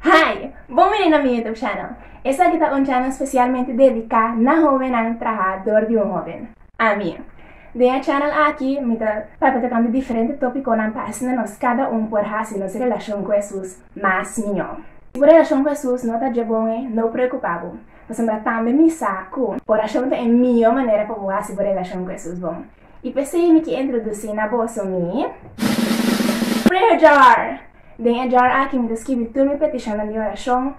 Hi! Bon bini na mi Youtube channel. Esaki ta un channel specialmente dedica na hobennan traha door di un hoben. Ami. Den e channel aki mi ta papia tocando diferente topiconan pa asina nos cada un por haci nos relacion cu Hesus mas mijo. Si bo relacion cu Hesus no ta dje bon e no preocupa bo, pasobra tambe mi sa cu oracion ta e mijo manera pa bo haci bo relacion cu Hesus bon. I pesey mi ki introdusí na boso mi. Prayer Jar! Den e jar aki mi ta skibi tur mi petishonnan di orashon,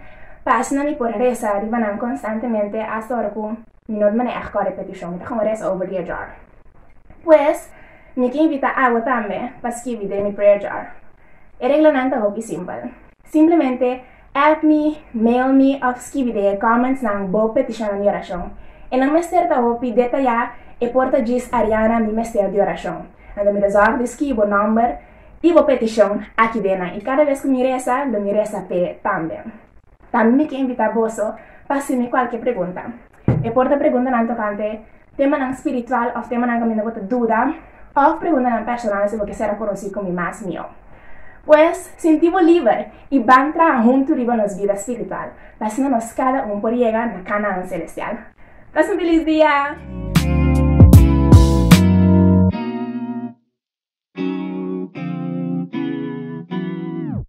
pasnan mi por resa riba nan konstantemente asta ora ku mi no ta maneha kòrda e petishon, mi ta kon resa over di e jar. Pues, mi ke invitá awa tambe pa skibi den mi prayer jar. E reglanan ta hopi simpel. Simplemente. App mi, mail mi of skibi den e comments nan bo peticionnan di oracion. E nan mester ta hopi detayá, e por ta djis Ariana mi mester di oracion. Anto mi ta zorg di skibi bo nomber i bo peticion aki den nan i cada vez cu mi resa lo mi resa p'e tambe. Tambe mi ke invita boso pa hacimi cualke pregunta. E por ta preguntanan tokante temanan spiritual òf temanan kaminda bo ta duda, òf preguntanan personal si bo ke ser a konosí ku mi mas mihó. Pues, sinti bo liber i ban traha huntu riba nos bida spiritual, pa asina nos kada un por yega na Kanaán selestial. Pas un felis dia!